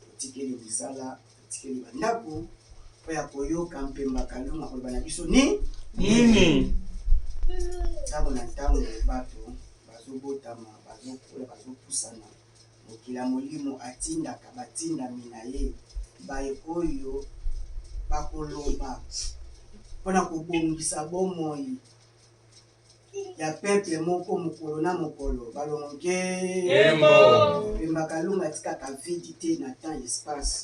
Totikeli misala, totikeli bandako mpo ya koyoka mpemba Kalunga akoloba na biso ni nini. Ntango na ntango bato bazobotama, bazokola, bazopusana. Mokila molimo atindaka batindami na ye baye oyo bakoloba mpo na kobongisa bomoi ya peuple moko mokolo na mokolo balongo nge embo pemba kalunga atikaka vidi te na temps espace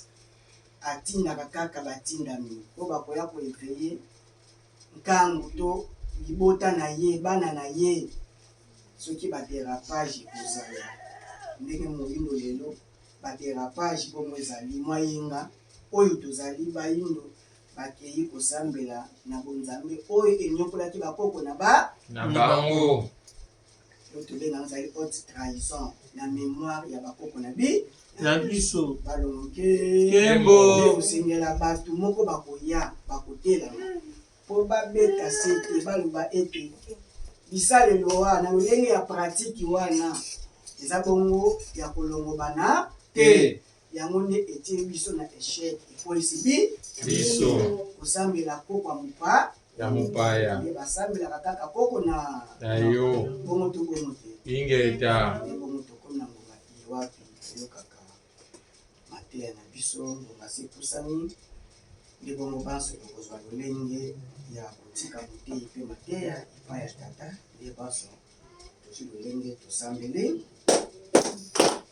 atindaka kaka batindami oyo bakoya koeveille nkangu to libota na ye bana na ye soki baderapage ekozala ndenge moyindo lelo baderapage bongo ezali mwayenga oyo tozali bayindo Bakei kozambela na bonzambe oyo eniokolaki bakoko na ba na bango. Oyo tobenga yango ezali haute trahison na memoire ya bakoko na bi na biso. Balonge Kembo. Nde kosengela bato moko bakoya bakotelama mpo babeta sete baloba ete bisalelo wana na lolenge ya pratiki wana eza bongo ya kolongobana te. Yango nde etie biso na echec epolisi bi biso kosambela koko ya mopa ya mopaya nde basambelaka kaka koko na na yo bongo to bongo te ingeta nde bongo tokomi na ngonga iye wapi toyokaka mateya na biso ngonga se epusani nde bongo banso tokozwa lolenge ya kotika moteyi mpe mateya epai ya tata nde banso tozwi lolenge tosambeli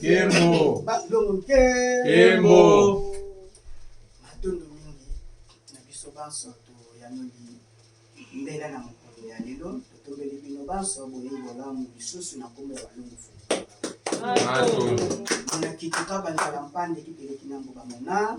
Kembo. Kembo. Matondo mingi na biso banso toyanoli mbela na mokolo ya lelo totombeli bino banso boyeyi bolamu lisusu na nkombo ya balongo fo monakituka banzala mpande kipeleki na mboka monaa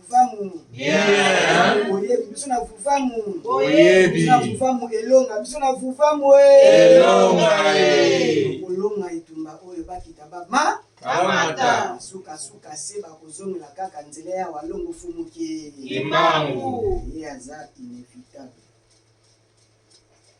vuvamu boyebi biso na vuvamu boyebi na vuvamu elonga biso na vuvamu elonga kolonga etumba oyo bakita bama kamata sukasuka se bakozongela kaka nzela ya walongo fumuki kimbangu ye aza inevitable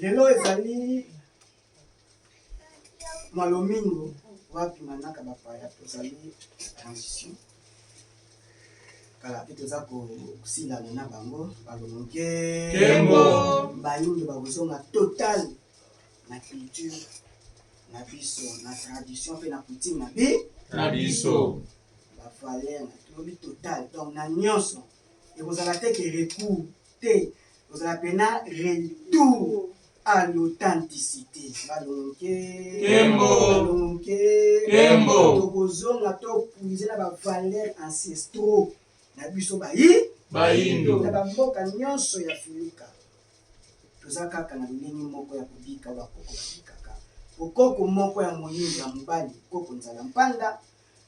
Lelo ezali malomingo wapi manaka bapaya tozali transition kala mpe toza kosilana na bango balomoke bayindo bakozonga total na culture na biso na tradition mpe na coutume na bi na biso bavaler na tolobi total donc na nyonso ekozala te ke recours te ozala pena retour à l'authenticité balonke balonke tokozonga topuise na bavaleur ancestraux na biso bayi bayindo na bamboka nyonso ya filika toza kaka na lolenge moko ya kobika bakoko babikaka okoko moko ya moyindo ya mobali koko nzala mpanda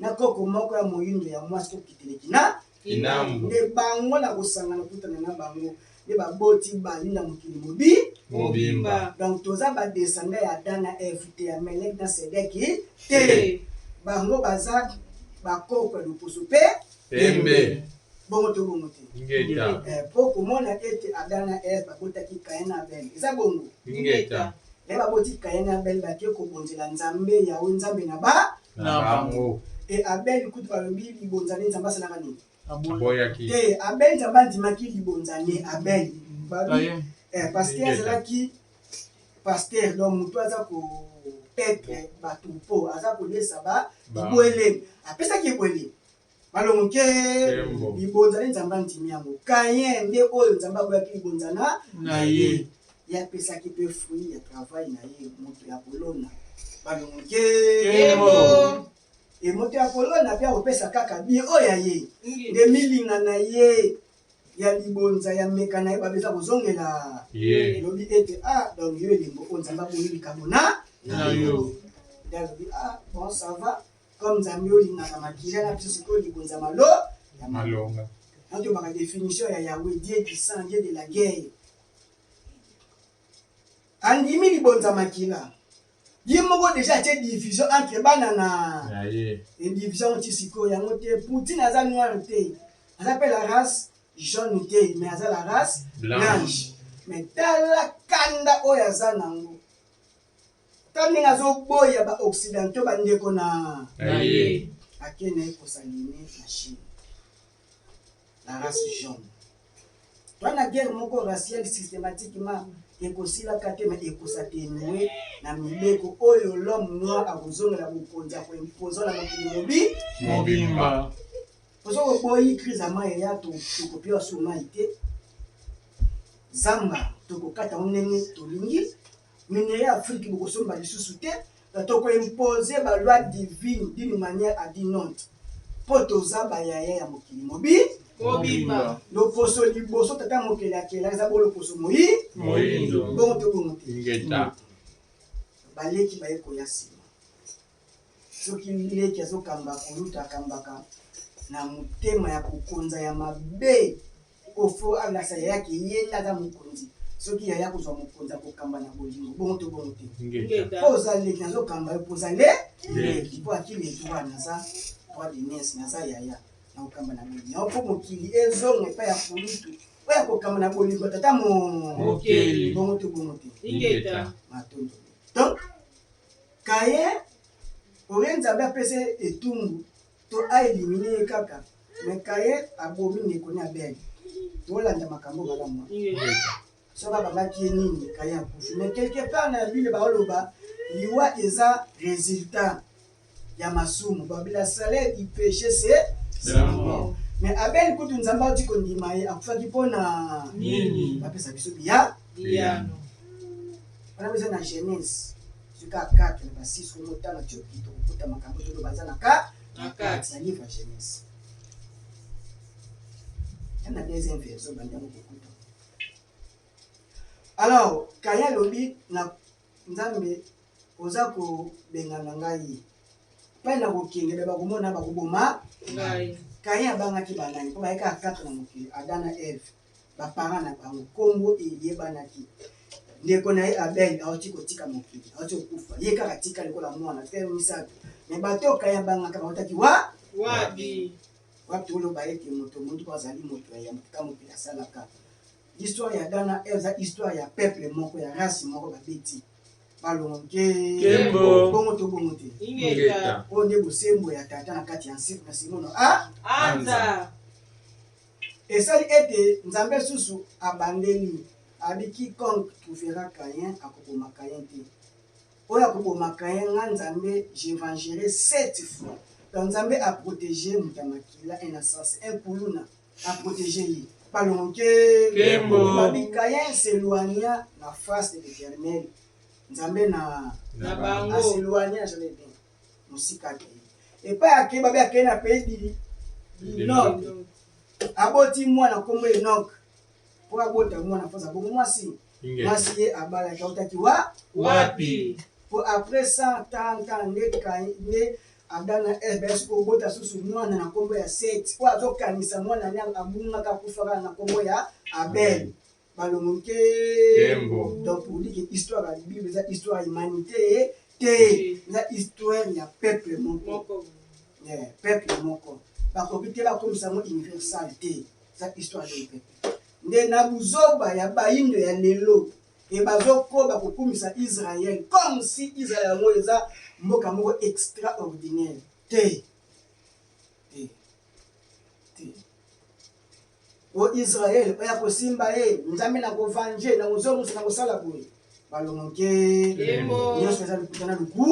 na koko moko ya moyindo ya mwasi kokitele kina Kinambo. nde bango na kosangana kutana na bango nde baboti bali na mokili mobi Mobimba. donc toza ba descendant ya Adam na Eve te ya Melek na Sedeki te Te. bango baza ba koko ya loposo mpe Pembe. bongo to bongo te Ingeta. Eh, mpo komona ete Adam na Eve babotaki Kain na Abel eza bongo Ingeta. me baboti Kain na Abel bake kobonzela Nzambe yawe Nzambe na ba na bango. E Abel kutu balobi libonza ne Nzambe asalaka nini? Aboyaki. Te, Abel Nzambe andimaki libonza ne Abel. Babi, eh, pasteur azalaki pasteur donc moto aza ko petre bato mpo aza kolesa ba bibwele apesaki ebwele Malongo ke libonza nde Nzambe andimi yango. Kayen nde oyo Nzambe aboyaki libonza na na ye. Ye apesaki mpe fruit ya travail na ye moto ya kolona. Malongo ke e moto ya kolona mpe akopesa kaka bien oyo ya ye nde milinga na ye ya libonza ya meka na ye babe eza kozongela elobi ete a ah, donc yo elembo oyo Nzambe abongi likambo na na yo nde alobi a ah, bon ça va comme nzambe olingaka makila na biso sikoyo libonza malo ya malonga natobaka definition ya yawe die du sang die de la guerre andimi libonza makila ye moko deja atie division entre bana na division ti sikoyo yango te poutine aza noire te aza mpe la race jaune te mais aza la race blanche mais tala kanda oyo aza nango Tala ndenge azoboya ba occidentaux ba ndeko na na ye. Ake na ye kosaline na Chine. La race jaune. Toi na guerre moko raciale systématiquement ekosila kate mais ekosatenue na mibeko oyo l'homme noir akozongela bokonzi ya koimpoza na mokili mobi mobimba. Ozo koboyi crise ya mai ya tokopewa su mai te. Zamba tokokata yango ndenge tolingi. Minerais ya Afrique bokosomba lisusu te na toko imposer ba lois divines d'une manière à dit non po toza ba yaya ya mokili mobi mobimba loposo liboso tata mokeli akela eza bo loposo moyi moyindo bongo tobongo te baleki baye koya nsima Soki leki azo kamba kulutu akambaka na motema ya kokonza ya mabe po faut alakisa yaya ke ye nde aza mokonzi soki yaya akozwa mokonzi akokamba na bolingo bongo to bongo te po oza leki nazo kamba yo po oza le leki po aki leki wana naza droit de nièce naza yaya nakokamba na bolingo yango po mokili ezonga epai ya kulutu po ya kokamba na bolingo tata mokeli bongo to bongo te matondo donc Kaye olie nzambe apesa ye etumbu to a elimine ye kaka me kaye abomi ndeko ne abel tolanda makambo malamu so babangaki ye nini kaye akufi me quelque part na bile baoloba liwa eza resultat ya masumu babila salaire du peche se me abel kutu nzambe auti kondima ye akufaki mpo na nini bapesa biso biya Biyano wana eza na Genèse soki a 4 na ba 6 omo otanga tioki tokokuta makambo tolo baza na ka na kati ya livre ya Genèse ya na deuxième version bandango kokuta alors kaye alobi na nzambe oza kobengana ngai epai na kokende me bakomona bakoboma ngai kaye abangaki banani mpo bayekaka 4 na mokili adana eve ba parents na bango kombo eyebanaki ndeko na ye Abel awuti kotika mokili awuti kokufa ye kaka atikali lokola mwana frère misato me bato oyo kaya bangaka bautaki wa wapi wapi toloba ete moto motuko azali moto ya yambo kaka mokili asalaka histoire ya Ghana eza histoire ya peuple moko ya race moko babeti balongo nke Kembo. bongo to bongo te ingeta oyo nde bosembo ya tata na kati ya nse- na simono a anza Esali ete nzambe lisusu abandeli abi quiconque trouvera Caïn akoboma Caïn te oyo akoboma Caïn nga nzambe je vengerai sept fois donc nzambe a protege moto ya makila un assassin un kuluna a protege ye balongo nkembo babi Caïn s'eloigna na face de l'Eternel nzambe na bango a s'eloigna jamais bien mosika akei epai akei babe akei na pays dini linord aboti mwana nkombo enok mpo abota mwana mpoza bongo mwasi mwasi ye abalaki autaki wa wapi mpo après 130 ans nde kai nde adam na eve bayaki kobota susu mwana na nkombo ya set oyo azokanisa mwana ne abungaka akufaka na nkombo ya abel Malongo nke Kembo. donc pour dire que histoire ya bible eza histoire ya humanité ye te eza histoire ya peuple moko Moko. Eh, peuple moko bakoki te bakomisa yango universal te eza histoire ya peuple nde na buzoba ya bayindo ya lelo e bazokoba kokumisa israel comme si israel yango eza mboka moko extraordinaire te te te o Israël oyo akosimba ye nzambe na kovanje na kozwa mosu na kosala boye balongo nke nyonso eza lokuta na luku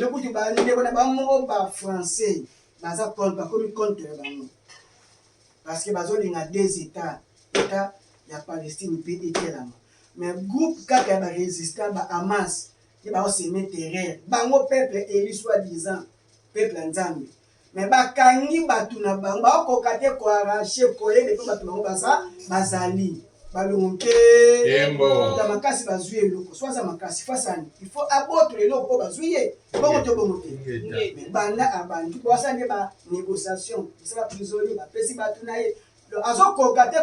lokutu bandeko na bango moko ba français baza contre bakomi contre bango parce que bazolinga deux états état ya palestine mpe etelama mais groupe kaka ya barésistant ba hamas nde baoseme terreur bango peuple eli soi disant peuple ya nzambe Mais ba kangi batu na bango ba koka te ko arracher colle de pe batu bango baza bazali balongo mpe ta makasi bazwi eloko so aza makasi fasani il faut abotola eloko mpo bazwi ye bongo to bongo te banda abandi po asala nde ba négociation esala prisonnier bapesi bato na ye azokoka te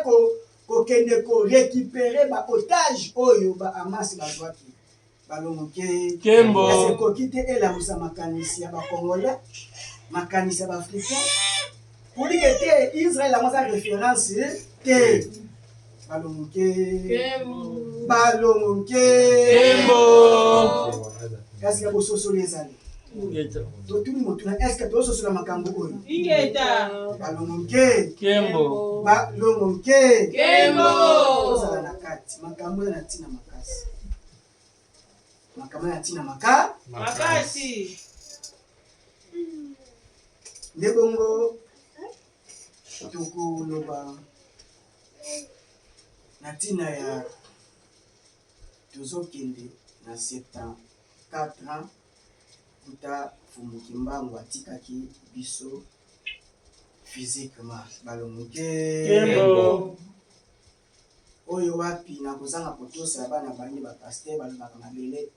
kokende ko récupérer ba otage oyo ba amasi bazwaki Balo Mokei, Kembo. kasi ekoki te elamusa makanisi ya ba Congolais, makanisi ya ba Africains. Purike te, Israël yango aza reference te. Balo Mokei, Balo Mokei. Kembo. Kasi ya bososoli ezali. Ingeta. Totuni motuna, est-ce que tozososola makambo oyo? Ingeta. Balo Mokei, Kembo. Balo Mokei. Kembo. Tozala na kati, makambo eza na ntina makasi. makama ya ntina maka makasi nde bongo tokoloba na ntina ya tozokende na 74 ans kuta mfumu kimbangu atikaki biso physiquement balongo te Oyo wapi na kozanga kotosa ya bana bande ba pasteur balobaka mabele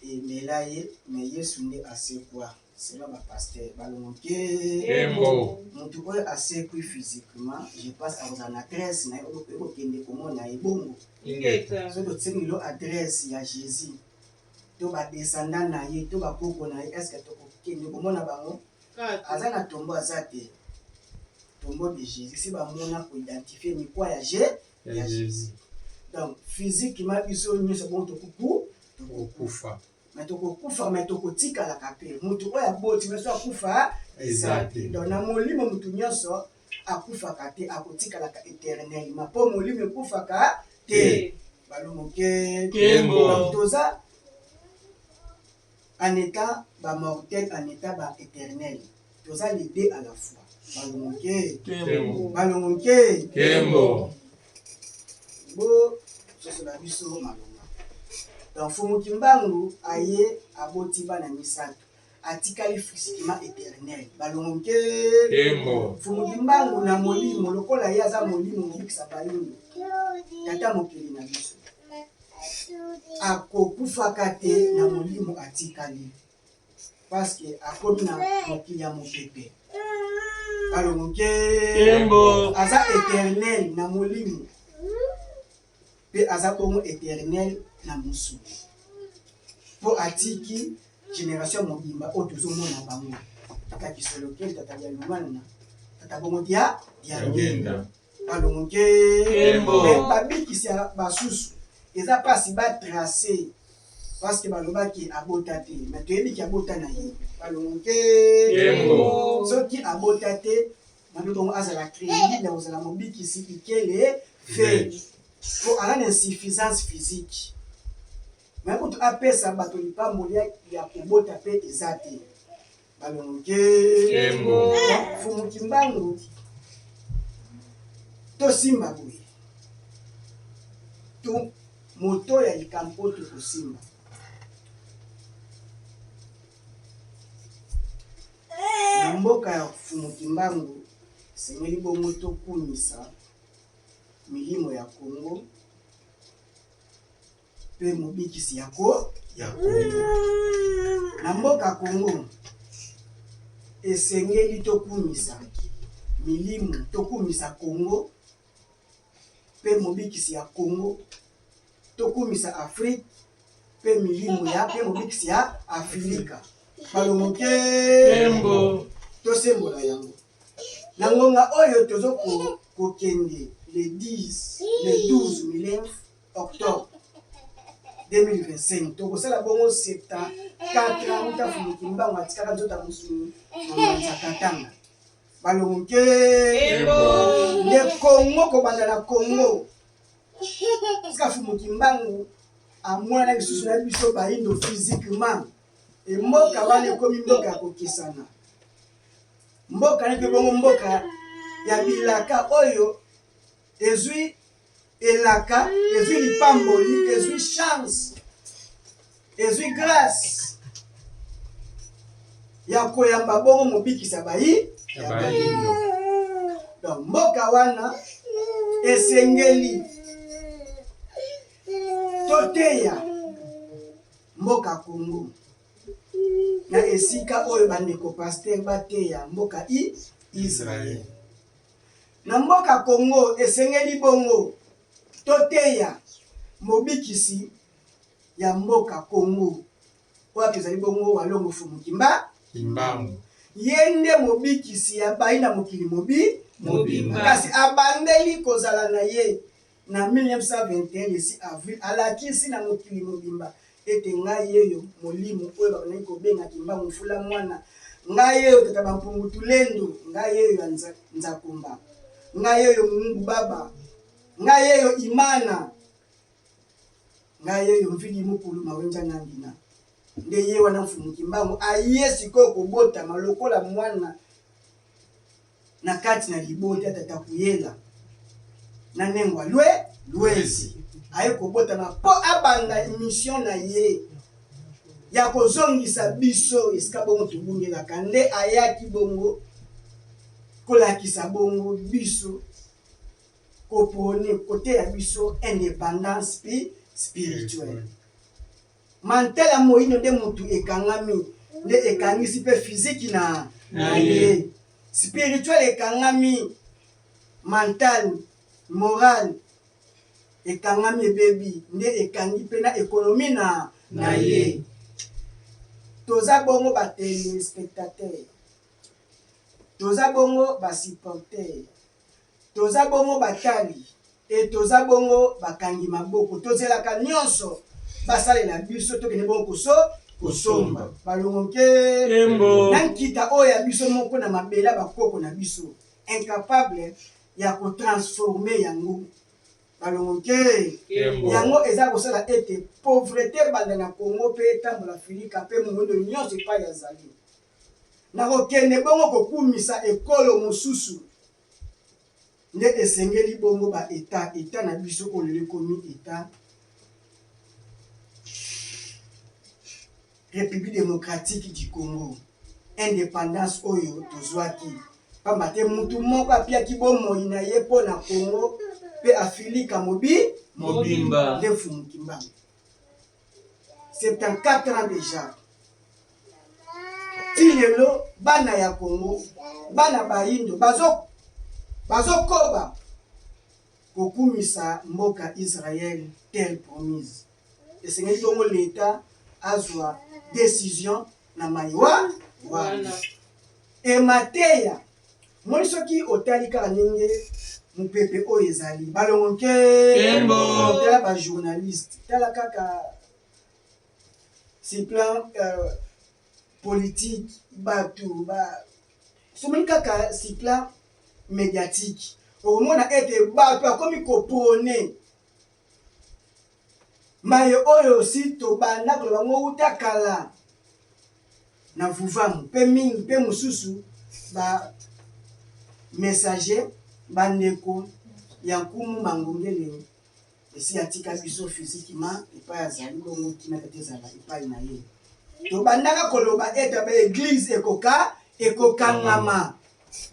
emela ye mais yesu nde asekua selon ba pasteur balongo nkembo mutu oyo asekui physiquement je pense akozala na adresse na ye okoki kokende komona ye bongo soki otingi lo adresse ya jesus to ba descendant na ye to bakoko na ye est ce que tokokende komona bango Aza na tombo aza te. Tombo de Jesus si ba mona ko identifier ni quoi ya je ya Jesus. Donc physique ma biso nyoso bon tokuku tokufa. Mais tokokufa mais tokotikala kape. Mutu oyo aboti biso akufa eza te. Donc na molimo mutu nyoso akufaka te akotikalaka eternellement po molimo ekufaka te. Balumuke. Kembo. Toza En etant ba mortels en etant ba eternels toza les deux à la fois balongo nkee balongo nkee kembo bo sosola biso malonga donc fumu kimbangu aye aboti bana misato atikali physiquement éternel balongo nke fumu kimbangu na molimo lokola ye aza molimo mobikisa bayini tata mokili na biso akokufaka te na molimo atikali paske akomi na mokili ya mopepe alongo nkembo aza eternel na molimo mpe aza bongo eternel na mosuni mpo atiki generation ya mobimba oyo tozomona bango tata kisolokeli tata dialumana tata bongo dia diangenda Alonge. Kembo. Mais babikisi ya basusu eza pasi ba tracer parce que balobaki abota te mais toyebi ki abota na ye balonge. Kembo. Soki abota te nabi bongo azala crédible ya kozala mobikisi ikele fe po aza na insuffisance physique mais kutu apesa bato lipamboli ya kobota pe eza te. Balonge. Kembo. Fumu Kimbangu. Tosimba boye. Tu moto ya likambo tokosimba. Na mboka ya Fumu Kimbangu esengeli bongo tokumisa milimo ya Kongo mpe mobikisi ya ko ya Congo. Na mboka Congo esengeli tokumisa milimu, tokumisa Congo mpe mobikisi ya Congo, tokumisa Afrique mpe milimu ya mpe mobikisi ya Afrika. Balomoke tosembola yango na ngonga oyo tozo kokende le 10 le 12 milenf octobre 2025 tokosala bongo septa 4 ans uta fumuki mbango atikaka nzota mosuni na mbanza katanga balongo ke nde kongo kobanda na kongo tika fumuki mbangu amwana lisusu na biso bayindo physiquement emboka wana ekomi mboka ya kokesana mboka nete bongo mboka ya bilaka oyo ezwi elaka ezwi lipamboli ezwi chance ezwi grace ya koyamba bongo mobikisa bayi donc mboka wana esengeli toteya mboka kongo na esika oyo bandeko paster bateya mboka i israele Na mboka Congo esengeli bongo toteya mobikisi ya mboka Congo wapi ezali bongo Walongo Fumu Kimba Kimbangu. Ye nde mobikisi ya bayi na mokili mobi mobimba kasi abandeli kozala na ye Na 1921, Yesi Avril alakisi na mokili mobimba ete, Ngai yeyo, Molimo oyo babandaki kobenga Kimbangu Mfula Mwana, ngai yeyo, Tata Bampungu Tulendo, ngai yeyo ya Nzakumba, ngai yeyo Mungu Baba, ngai yeyo Imana, ngai yeyo Mvidi Mukulu Mawenja Nangina. nde ye wana mfumu kimbangu aye sikoyo kobotama lokola mwana Na kati na libota tata kuyela na nengwa lwe lwezi aye kobotama po abanda emission na ye ya kozongisa biso esika bongo tobundelaka nde ayaki bongo kolakisa bongo biso kopone koteya biso independance spirituelle. Mantel ya moindo nde mutu ekangami nde ekangisi pe physique na naye. Spirituel ekangami mental, moral ekangami ebebi nde ekangi pe na economie na naye. Toza bongo ba telespectateurs, toza bongo ba supporteurs. Toza bongo batali et toza bongo bakangi maboko. Tozelaka nionso basalela biso tokende bongo koso kosomba balongo nkee na nkita oyo ya biso moko na mabele ya bakoko na biso incapable ya ko transformer yango balongo nkee. Yango eza kosala ete pauvrete ebanda na Congo mpe etambola filika mpe moindo nionso epayi azali. Nakokende bongo kokumisa ekolo mosusu? Nde esengeli bongo ba Etats, Etat na biso oyo lelo ekomi Etat Republique democratique du Congo, independance oyo tozwaki pamba te mutu moko apiaki bomoi na ye mpo na Congo mpe Afilika mobi mobimba, nde Mfumu Kimbangu. 74 ans dejà ti lelo bana ya Congo bana bayindo bazo bazokoba kokumisa mboka Israël terre promise esengeli bongo leta azwa decision na maye wana wana emateya Omoni soki otali kaka ndenge mupepe oyo ezali balongo nke Kembo. tala ba journaliste tala kaka sur plan euh, politique batu ba somoni kaka sur plan médiatique okomona ete batu akomi kopone Maye oyo si tobanda koloba yango wuta kala na Vuvamu pe mingi pe mosusu ba messager ba ndeko ya Nkumu Mangongele esi atika biso physiquement epayi azali bongo kimia tata ezala epayi na ye. Tobandaka koloba ete ba eglise ekoka ekokangama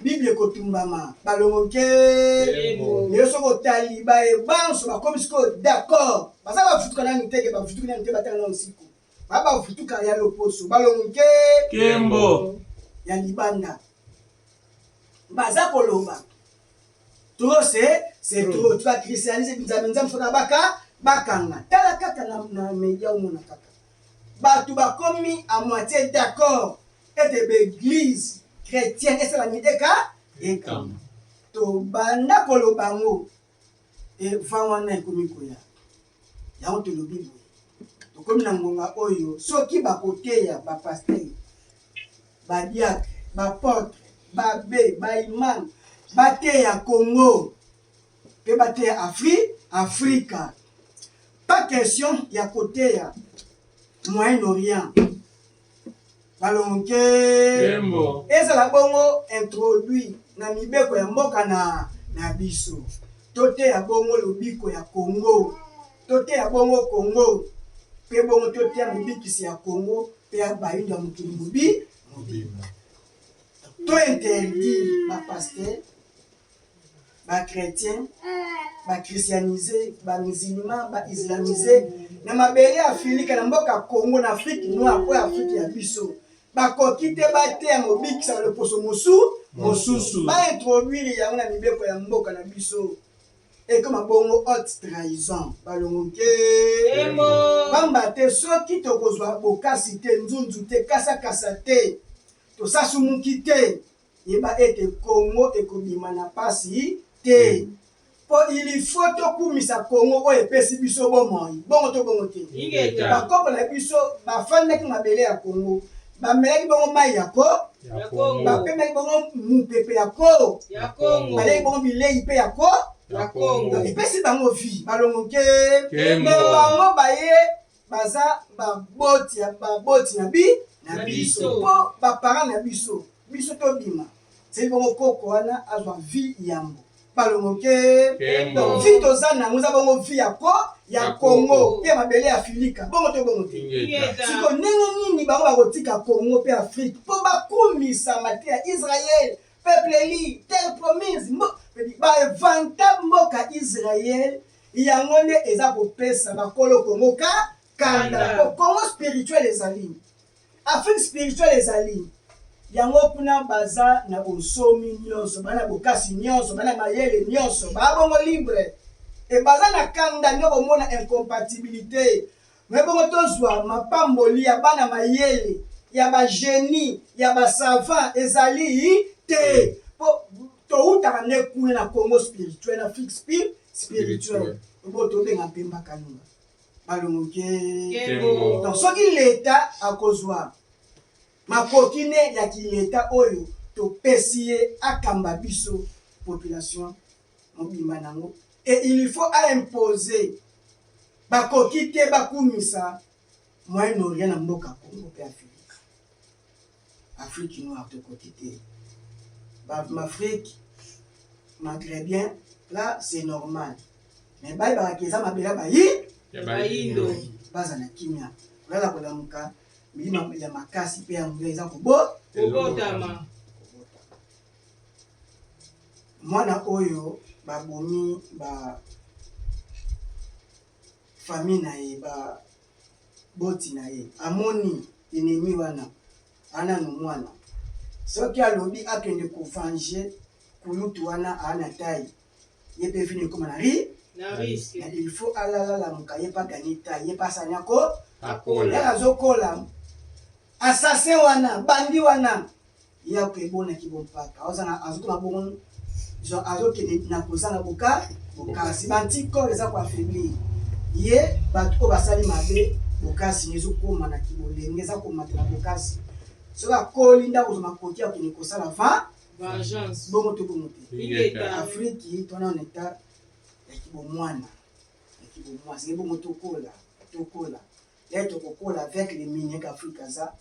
Bible ekotumbama balongo nkembo lelo soki otali baye banso bakomi sikoyo d'accord baza bavutuka nanu teke bavutuki nanu te batanga nanu siko ba bavutuka ya loposo balongo nke kembo ya libanda baza koloba trop se se hmm. trop tuka christianise nzambe nzambe soki abaka bakanga tala kaka na, na media omona kaka Bato bakomi à moitie d'accord ete ba eglises chretiennes esala nini? Eka, ekama. Tobanda koloba yango et vent wana ekomi koya. Yango tolobi boye, tokomi na ngonga oyo soki bakoteya ba pasteurs, ba diacres, ba apotres, b'abbes, ba imams bateya Congo, pe bateya Afri, Afrika. Pas question ya koteya Moyen Orient. Balonke. Kembo. Ezala bongo introduit na mibeko ya mboka na na biso. Toteya bongo lobiko ya Congo. Toteya bongo Congo. Pe bongo toteya mobikisi ya Congo pe ya bayindo ya mokili mobi mobimba. To interdire ba pasteurs ba chretiens ba christianise ba musulman ba islamise na mabele ya afilika na mboka congo na afrique noire oyo afrique ya biso bakoki te bateya mobikisa loposo mosu mosusu baintroduire yango na mibeko ya mboka na biso ekoma bongo haute trahison balongo nke pamba te soki tokozwa bokasi te nzunzu te kasakasa te tosasumuki te Yeba ete Congo ekobima na pasi te po il faut tokumisa Congo oyo epesi biso bomoi bongo to bongo te? Ingeta. Ba koko na biso ba fandaki mabele ya Congo, ba melaki bongo mayi ya ko, Ya Congo. ba pemaki bongo mupepe ya ko, Ya Congo. ba lei bongo bileyi pe ya ko, Ya Congo. donc epesi bango vie, balongo nkeembo. Kembo. Mais bango baye baza baboti ya baboti na bi na biso mpo baparent na biso biso tobima seki bongo koko wana azwa vi yambo balongoke donc vi toza nango eza bongo vi ya ko ya kongo mpe mabele ya filika bongo to bongo te siko ndenge nini bango bakotika kongo mpe afrike mpo bakumisa mate ya israel peuple li terre promise bavanta mboka israel Yango nde eza kopesa ba kolo Congo ka kanda po Congo spirituel ezali Afrique spirituel ezali yango kuna baza na bonsomi nionso bana bokasi nionso bana mayele nionso ba bongo libre et baza na kanda nde okomona incompatibilite Na bongo tozwa mapamboli ya bana mayele, ya ba genies, ya ba savants, ezali te. Po towutaka nde kuna na Congo spirituel, na Afrique spirituel. Ebongo tobenga Mpemba Kalunga, Balongo Nkembo. Donc soki leta akozwa makoki ne ya ki leta oyo topesi ye akamba biso population mobimba nango et il faut a impose bakoki te bakumisa moyen orient na mboka Congo pe Afrique Afrique noire tokoki te ba mafrique magrebien la c'est normal mais bayebaka ke eza mabela bayi ya bayindo bazala kimia kolala kolamuka milimo ya makasi pe ya nguya eza kobo kobotama Mwana oyo ba bomi ba famille na ye ba boti na ye amoni enemi wana anano mwana soki alobi akende ko venger kulutu wana ana taille ye mpe vino ekoma na ri na risque na il faut alala lamuka ye mpe aganye taille ye mpe asani ako akola azokola assassin wana bandi wana Ya ko ebona ki bo mpaka azo na azo koma bongo genre azo kende na kozanga boka bokasi ba anti corps eza ko affaiblir ye bato oyo basali mabe bokasi ne ezo koma na kibolenge eza komata na bokasi soki akoli nda kozwa makoki ya kende kosala va vengeance bongo to bongo te Ingeta. afriki tona na etat ya kibomwana ya kibomwasi ye bongo tokola tokola yaye tokokola avec les miniers qu'afrique aza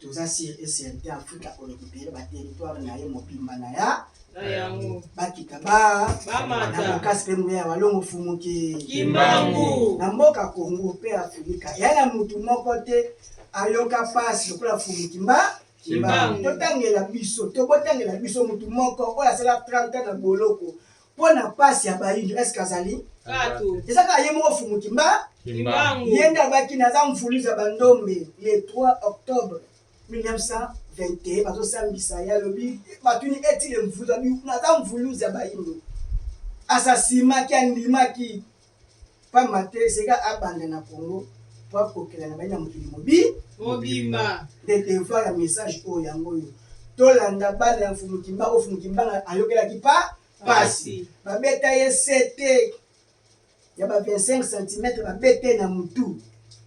Toza sur et certain Afrika ko recuperer ba territoires na ye mobimba na ya na yango bakita ba bamata na bokasi mpe nguya ya walongo fumuki kimbangu na mboka Congo mpe Afrika ya na mutu moko te ayoka pasi lokola fumuki mba kimbangu totangela biso tobotangela biso mutu moko oyo asala 30 ans na boloko Mpo na mpasi ya baindo, eske azali? Bato. Eza kaka ye moko Fumu Kimba. Kimbangu. Ye nde alobaki naza mvuluzi ya bandombe le 3 octobre 1921 bazosambisa ye alobi batuni etile mvuluzi abi naza mvuluzi ya baindo asasima ki andimaki Pamba te Zeka abanda na Congo po akokela na baye na mokili mobi mobimba. Nde devoir ya message oyo yango oyo, tolanda bana ya Mfumu Kimbangu oyo Mfumu Kimbangu ayokelaki pa pasi. Babeta ye sete ya ba 25 centimetre, babeta ye na mutu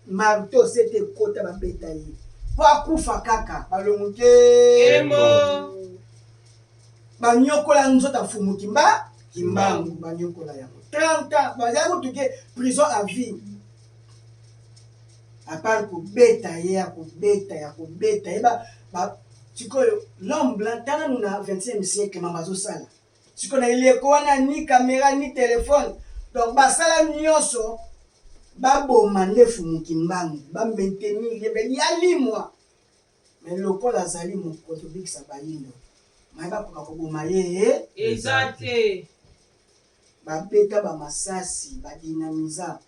marteau, sete ekota babeta ye po akufa kaka, balongo nkembo. banyokola nzoto ya mfumu kimba kimbangu banyokola yango 30 ans baza kutuke prison à vie apart kobeta ye ya kobeta ya kobeta ye sikoyo l'homme blanc tala no na 20e siècle mama azosala sikoyo na eleko wana ni kamera ni telefone donc basala nyonso baboma nde fumukimbangu bamentenir ye mpe yalimwa Mais lokola azali mokoto bikisa bayindo mai bakoka koboma ye he eza te babeta ba masasi ba dinamiza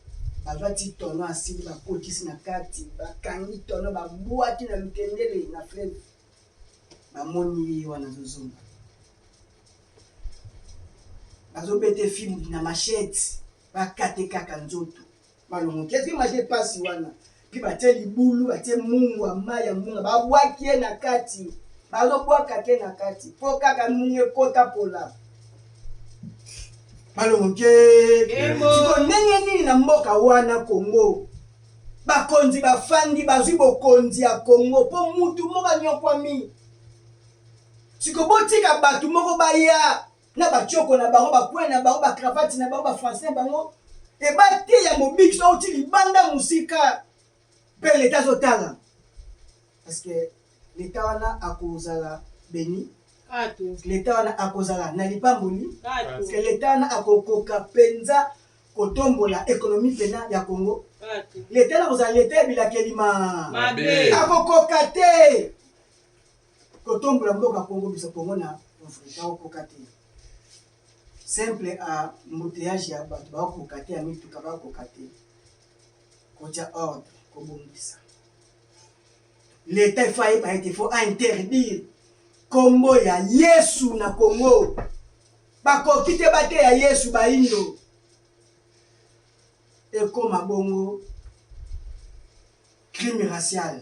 bazwa ti tono asili bakotisi na kati bakangi tono babwaki na lukengele na fleve bamoni ye wana azozonga bazobete fimbi na machete bakate kaka nzoto Malongo te soki maji epasi wana mpe batie libulu batie mungwa mai ya mbunga babwaki ye na kati bazobwaka te na kati mpo kaka mbunga ekota pola malongo te siko ndenge nini na mboka wana kongo bakonzi bafandi bazwi bokonzi ya kongo mpo mutu moko anyokwami siko botika bato moko baya na ba tshoko na bango ba coin na bango ba cravate na bango ba français na bango et ba te ya mobiki so oti libanda musika pe leta zo tala parce que leta wana akozala beni leta wana akozala na lipamboli ke leta wana akokoka mpenza kotombola ekonomi mpena ya congo leta wana akozala leta ya bilakeli ma akokoka te Kotombola mboka Congo biso Congo na Afrika okoka te. Simple a mbuteyage ya bato bakoka te ya mituka bakoka te. Kotya ordre kobongisa. L'État il faut ayeba ete faut interdire kombo ya Yesu na Congo. Bakoki te bateya Yesu baindo. Ekoma bongo crime racial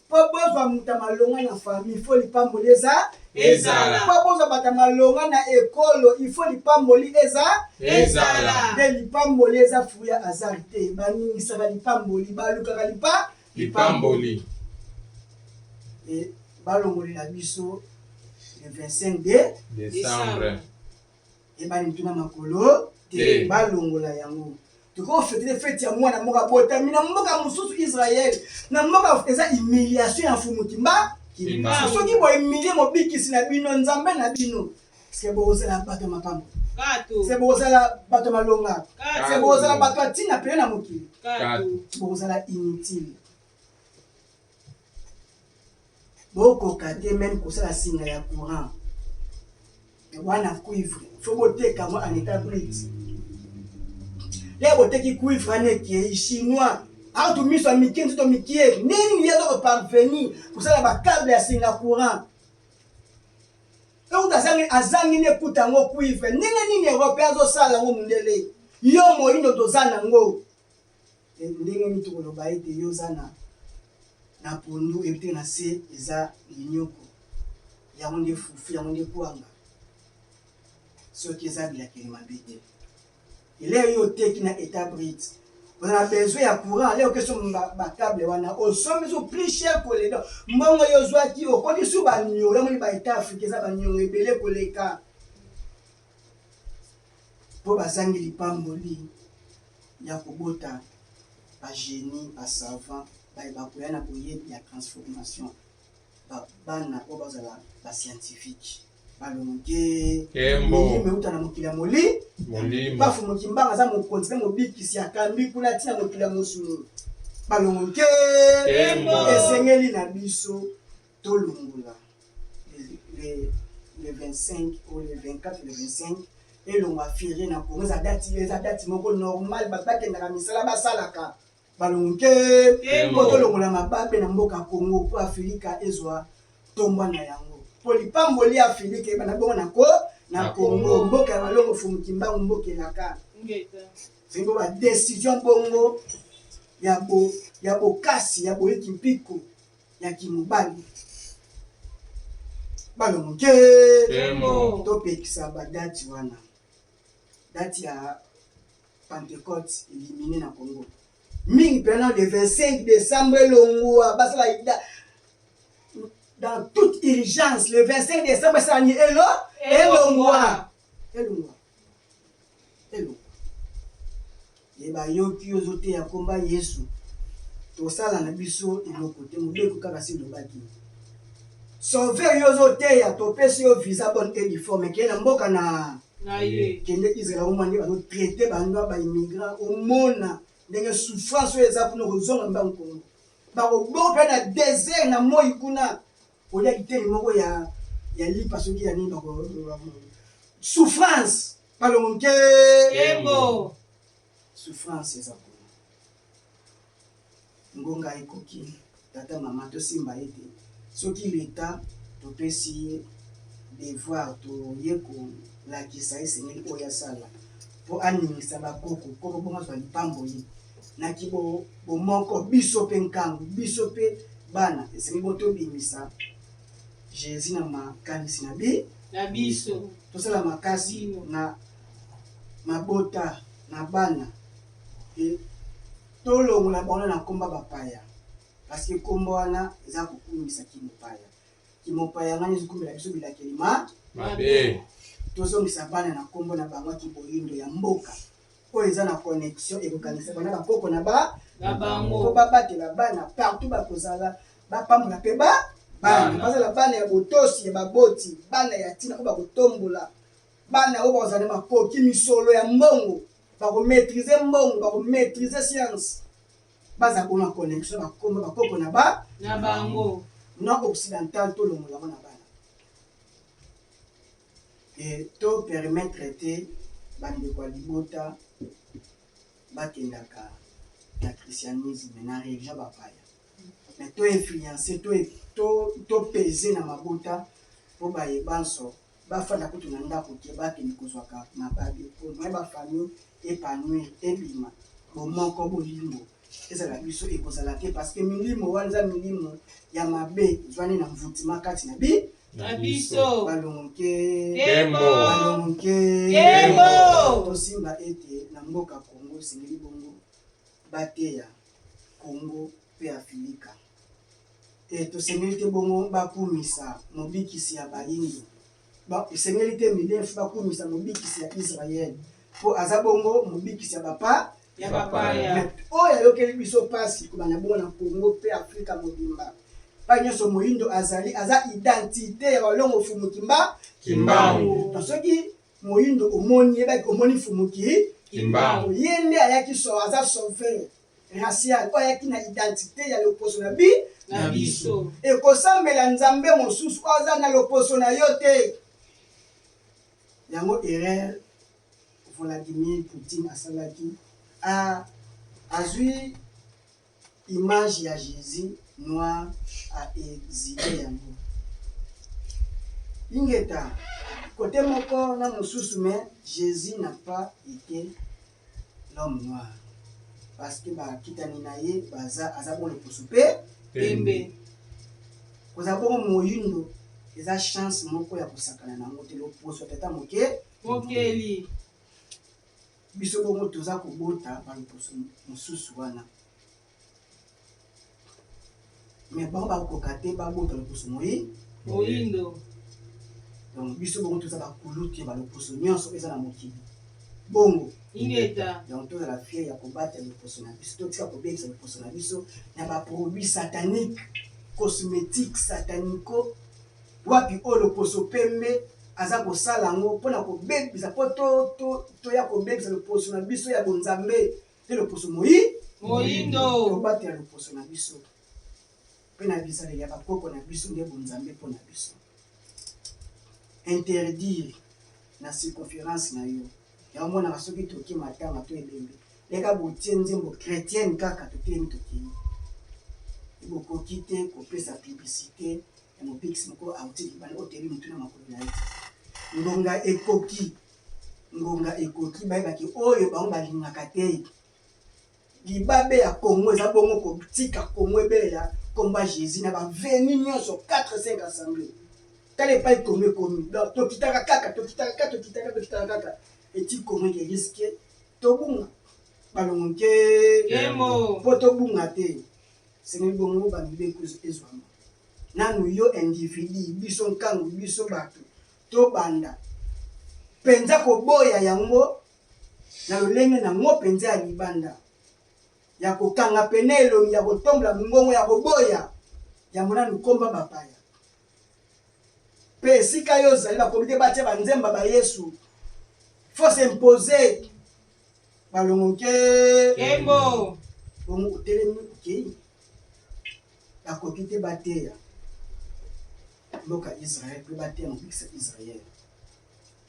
Po bozwa moto ya malonga na famille il faut lipamboli eza ezala po bozwa bato ya malonga na ekolo il faut lipamboli eza ezala nde lipamboli eza fruit ya hasard te baningisaka lipamboli balukaka lipa lipamboli e balongolela biso le 25 de décembre eyebani motu na makolo te balongola yango tokoki kofetele feti ya mwana moko abotami na mboka mosusu israel na mboka eza humiliation ya mfumu kimba soki bohumilie mobikisi na bino nzambe na bino se bokozala bato ya makambo se bokozala bato ya malonga se bokozala bato ya ntina mpene na mokili bokozala inutile Bokoka te meme kosala singa ya courant wana cuivre faut boteka yango en etat brut lelo boteki cuivre wana ekei chinois autu miso ya mike nzoto mikie nini ye azoko parveni kosala bacable ya singa courant euta azangi azangi nde ekuta yango cuivre ndenge nini europea azosala yango mondele yo moindo toza nango Ndenge nini tokoloba ete yo oza na na pondu epui na se eza minyoko? Yango nde fufu, yango nde kwanga soki eza bilakeli mabe te. Leo yo oteki na etat brut oza na besoin ya courant, leo oke somba ba cable wana osombi su plus cher koleka mbongo yo ozwaki, okomi su ba niongo. Yango nde ba etat africain eza ba niongo ebele koleka. po bazangi lipamboli ya kobota ba genies, ba savants baye bakoya na boyebi ya transformation, ba bana oyo bazala ba scientifiques balongi tee, Nkembo. milimo euta na mokili ya moli Molimo. bafu mokimbanga aza mokonzi mpe mobikisi akambi kuna ntina mokili ya mosuni balongo nke Nkembo. esengeli na biso Tolongola le 25 ou le 24 ou le 25 elonga ferre na congo eza dati eza dati moko normal bato bakendaka misala basalaka balonke mpo tolongola mababe na mboka congo mpo afilika ezwa tombwa na yango mpo lipamboli ya afilika ebana bongo na ko na congo mboka ya balongo fumukimbangu mboka elaka zengo badecision bongo ya bokasi ya boyiki mpiko ya kimobali bana moke topekisa badati wana dati ya pentecote elimine na congo mingi mpena le 25 décembre elongwa basala dans toute urgence le 25 décembre esalani elo elongwa elongwa eluka ye bayoki ozoteya komba yesu tosala na biso eloko te mobeko kaka si elobaki sauve yo ozoteya topesi yo visa bonne et uniforme keye na mboka na kende israel omwa nde bazotraite bandwa baimmigrant omona ndenge souffrance oyo eza kuna okozonga mbango kongo bakoboka na desert na moi kuna Olia kiteyi moko ya ya lipa soki ya nini bako souffrance balongo nke kembo souffrance eza kuna ngonga ekoki tata mama tosimba ye te soki leta topesi ye devoir toye kolakisa esengeli oyo asala mpo aningisa bakoko koko bongo azwa lipamboli na ki bo bomoko biso pe nkangu biso pe bana esengeli bo tobimisa Jesus na makanisi na bi na biso tosala makasi na mabota na bana e tolongola bango na komba bapaya parce que kombo wana eza kokumisa kimopaya kimopaya ngani ezokumela biso bilakeli ma mabe tozongisa bana na kombo na bango kiboyindo ya mboka oyo eza na connexion ekokangisaka na bakoko na ba na bango mpo babatela bana partout bakozala bapambola mpe ba bana bazala bana ya botosi ya baboti bana ya ntina oyo bakotombola bana oyo bakozala na makoki misolo ya mbongo bakomaîtrise mbongo bakomaîtrise science baza kona connexion bakoma bakoko na ba na bango na occidental tolongola yango na Et to permettre te ba ndeko ya libota ba kendaka na christianisme, na religion ya ba paya. Mais to influencer, to to peser na mabota po baye banso ba fanda kutu na ndaku te, ba kende kozwaka mababe au moins ba famille epanouir ebima, bo moko bolingo ezala biso ekozala te parce que milimo wana eza milimo ya mabe ezwani na envoutement kati na bi na biso balongoke kembo balongoke kembo tosimba ete na mboka Kongo esengeli bongo bateya Kongo mpe Afilika te tosengeli te bongo bakumisa mobikisi ya bayindo esengeli te minefu bakumisa mobikisi ya Israele mpo aza bongo mobikisi ya bapa ya bapaya. Oyo ayokeli biso pasi kobanda bongo na Congo mpe Afrika mobimba. Epai nyonso moyindo azali, aza identite ya walongo fumu kimba kimbangu. Na soki moyindo omoni yebaki omoni fumu ki kimbangu. Ye nde ayaki so aza sauveur racial oyo ayaki na identite ya loposo na bi na biso. Ekosambela nzambe mosusu oyo aza na loposo na yo te. Yango erreur Vladimir Poutine asalaki a azui image ya Jesus noir a exhiber yango ingeta cote moko na mosusu mais Jesus n'a pas ete l'homme noir parce que ba kitani na ye baza aza bo loposo pe pembe kozala bongo moyindo eza chance moko ya kosakana na yango te loposo tata moke Mokeli. Biso bongo toza kobota ba loposo mosusu wana. Mais bango bakoka te babota loposo moyi. Moyindo. Donc biso bongo toza ba kulutu ya ba loposo nyonso eza na mokili. Bongo. Ingeta. Donc tozala fier ya kobata loposo na biso. Totika kobebisa loposo na biso na ba produits sataniques, cosmétiques, satanico. Wapi oyo loposo pembe aza kosala yango mpo na kobebisa mpo to, to, toya kobebisa loposo na biso ya bonzambe mpe loposo moi moindo tobatela loposo na biso mpe na bizaleli ya bakoko na biso nde bonzambe mpo na biso interdire na circonférence na yo yango monaka soki toki matanga to ebembe leka botie nzembo chrétienne kaka totelemi tokei bokoki te kopesa publicité ya Mobikisi moko auti libanda, oyo otebi motu na makolo na ye te. Ngonga ekoki, ngonga ekoki bayeba ke oyo bango balingaka te. Libabe ya Congo eza bongo kotika Congo ebelela komba Jesus na ba veni nionso 4 5 assemblee. Tala epai Congo ekomi. Donc tokitaka kaka, tokitaka kaka, tokitaka, tokitaka kaka. Eti Congo eke risque tobunga. Balongo nkee. Nkembo. Po tobunga te. Esengeli bongo ba mibeko ezwama nanu yo individu, biso nkangu, biso bato tobanda mpenza koboya yango na lolenge na ngo mpenza ya libanda ya kokanga pene elongi ya kotombola mongongo ya koboya yambo nanu komba bapaya. Mpe esika yo ozali, bakomi te batia banzemba ba Yesu. Faut s'imposer. Balongo nke. Kembo. Bongo otelemi okei. Bakoki te bateya mboka Israël mpe bateya mobikisa Israël.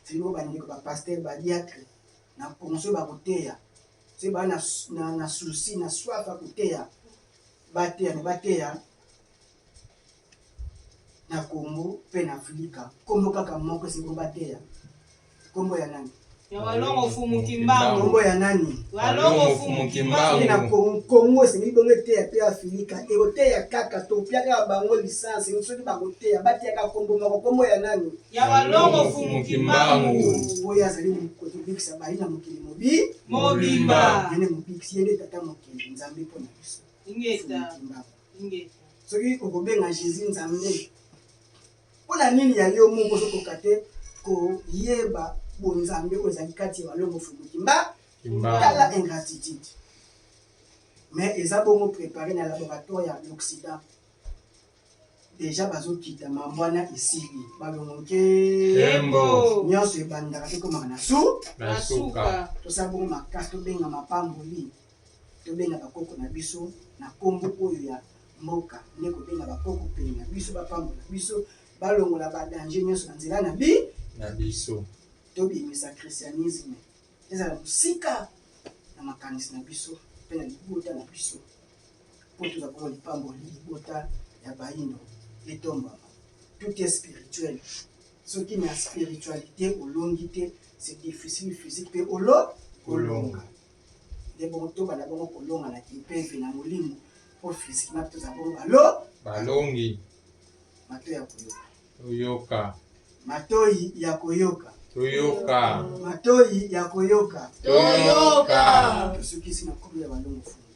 Sino bandeko ba pasteur ba diacre na ponso bakoteya soki baa na, na, na souci na swafa koteya bateya me bateya na Congo pe na Africa kombo kaka moko esili ko bateya kombo ya nani ya walongo fumu kimbangu kombo ya nani walongo fumu kimbangu na Congo Congo esili bongo eteya pe Africa ekoteya kaka topia kaka bango licence ni soki bakoteya bateya kaka kombo moko kombo ya nani ya walongo fumu kimbangu oyo azali kotobikisa bayi na mokili mobi mobimba yene mobikisi yende tata mokili nzambe mpo na biso ingeta Soki okobenga Jesus Nzambe, mpo na nini ya yo moko ozokoka te koyeba bonzambe oyo ezali kati ya malongo fumu kimba tala ingratitude mais eza bongo prepare na laboratoire ya l'occident deja bazokita mambo wana esili balongo nkembo nyonso ebandaka tokomaka na su na suka tosala bongo makasi tobenga mapamboli Tobenga ba koko na biso na kombo oyo ya mboka nde kobenga ba koko pene na biso ba pambola biso ba longola ba danger nionso na nzela na bi na biso. To bimisa christianisme ezala mosika na makanisi na biso pe na libota na biso po tozwa bongo lipamboli libota ya bayindo etombwama. Tout est spirituel soki na spiritualite olongi te c'est difficile physique pe olo kolonga. Nde bongo tobanda bongo kolonga na kimpeve na molimo mpo physiquement mpe tozala bongo balo balongi mato ya koyoka toyoka matoi ya koyoka toyoka matoi ya koyoka toyoka tosukisi na nkolo ya balongo fungi